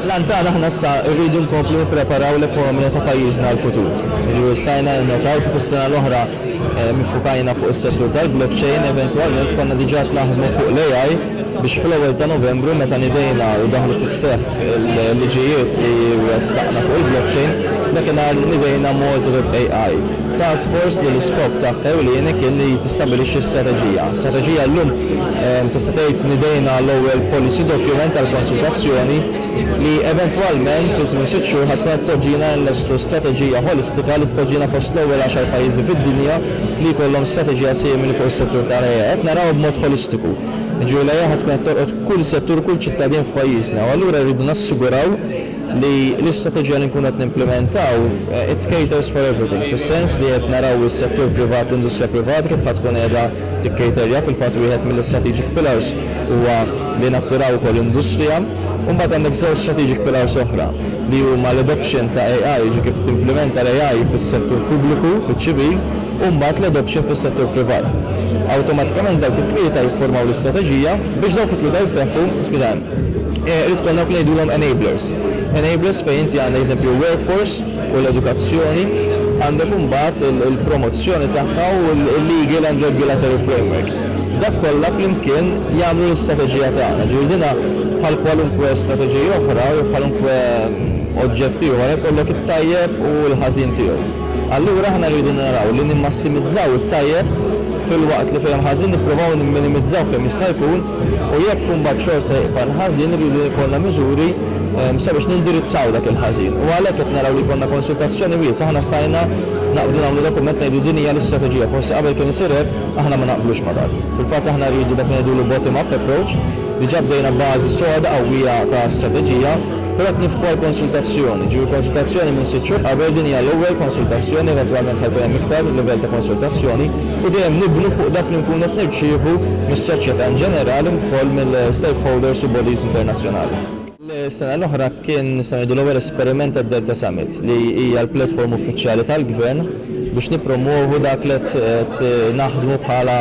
L-għan tagħna aħna issa rridu nkomplu nippreparaw l-ekonomija ta' pajjiżna għall-futur. Jiġifieri stajna ninnotaw kif is-sena l-oħra iffukajna fuq is-settur tal-blockchain, eventwalment konna diġà qed naħdmu fuq l-AI biex fl-ewwel ta' Novembru meta nidejna u daħlu fis-seħħ il-liġijiet li ressaqna fuq il-blockchain, dakinhar nidejna Malta dot AI, task force li l-iskop tagħha ewlieni kien li tistabilixxi strateġija. Strateġija llum. Tista' tgħid li dejna l-ewwel policy document għall-konsultazzjoni li eventwalment fi żmien sitt xhur ħa tkun qed tpoġġina nlestu strateġija ħolistika li tpoġġina fost l-ewwel għaxar pajjiżi fid-dinja li jkollhom strateġija simili fuq is-settur tal-AI. Qed narawha b'mod ħolistiku. Jiġifieri l-AI ħa tkun qed tolqot kull settur u kull ċittadin f'pajjiżna u allura rridu nassiguraw li l-istrateġija li nkunu qed nimplimentaw it caters for everything fis-sens li qed naraw is-settur privat, l-industrija privata kif ħa tkun qiegħda tikkriterja. Fil-fatt wieħed mill-strategic pillars huwa li nattiraw ukoll industrija. U mbagħad għandek żewġ strategic pillars oħra li huma l-adoption ta' AI, jiġifieri kif timplimenta l-AI fis-settur pubbliku, fiċ-ċivil, u mbagħad l-adoption fis-settur privat. Awtomatikament dawk it-tlieta jifformaw l-istrateġija. Biex dawk it-tlieta jseħħu, spiegħem, irid ikollna dawk li ngħidulhom enablers. Enablers fejn inti għandek eżempju workforce, u l-edukazzjoni, għandek imbagħad il-promozzjoni tagħha u l-legal and regulatory framework. Dak kollha flimkien jagħmlu l-istrateġija tagħna. Ġifieri dina bħal kwalunkwe strateġija oħra jew kwalunkwe oġġett ieħor ikollok it-tajjeb u l-ħażin tiegħu. Allura aħna rridu naraw li nimmassimizzaw it-tajjeb filwaqt li fejn hemm ħażin nipprovaw nimminimizzaw kemm jista' jkun u jekk imbagħad xorta jibqa' l-ħażin irridu jkollna miżuri sabiex nindirizzaw dak il-ħażin. U għalhekk qed naraw li jkollna konsultazzjoni wiesgħa, aħna stajna naqblu nagħmlu dokument ngħidu din hija l-istrateġija, forsi qabel kien isir hekk, aħna ma naqblux ma' dak. Fil-fatt aħna rridu dak li ngħidulu bottom up approach, diġà bdejna b'bażi soda qawwija ta' strateġija, però qed niftħu għal konsultazzjoni, ġifieri konsultazzjoni minn sitt xhur qabel, din hija l-ewwel konsultazzjoni, eventwalment ħa jkun hemm iktar livell ta' konsultazzjoni, u dejjem nibnu fuq dak li nkunu qed nirċievu mis-soċjetà in ġenerali kif ukoll mill-stakeholders u bodies internazzjonali. Is-sena l-oħra kien nistgħu ngħidu l-ewwel esperiment tad-Delta Summit li hija l-platform uffiċjali tal-Gvern biex nippromwovu dak li qed naħdmu bħala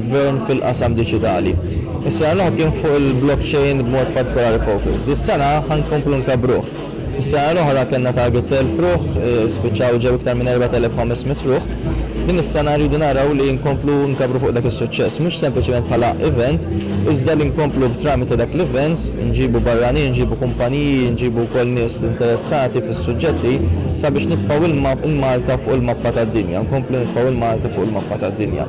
Gvern fil-qasam diġitali. Is-sena l-oħra kien fuq il-blockchain b'mod partikolari focus. Dis-sena ħa nkomplu nkabbruh. Is-sena l-oħra kellna target ta' elf ruħ, spiċċaw ġew iktar minn erbat elef u ħames mitt ruħ. Din is-sena rridu naraw li nkomplu nkabbru fuq dak is-suċċess, mhux sempliċement bħala event, iżda li nkomplu b'tramite ta' dak l-event, nġibu barranin, nġibu kumpaniji, nġibu wkoll nies interessati fis-suġġetti, sabiex nitfgħu il-Malta fuq il-mappa tad-dinja, nkomplu nitfgħu il-Malti fuq il-mappa tad-dinja.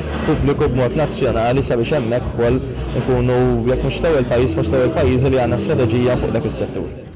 pubbliku b'mod nazzjonali sabiex hemmhekk ukoll inkunu jekk mhux l-ewwel pajjiż fost l-ewwel pajjiżi li għandna strateġija fuq dak is-settur.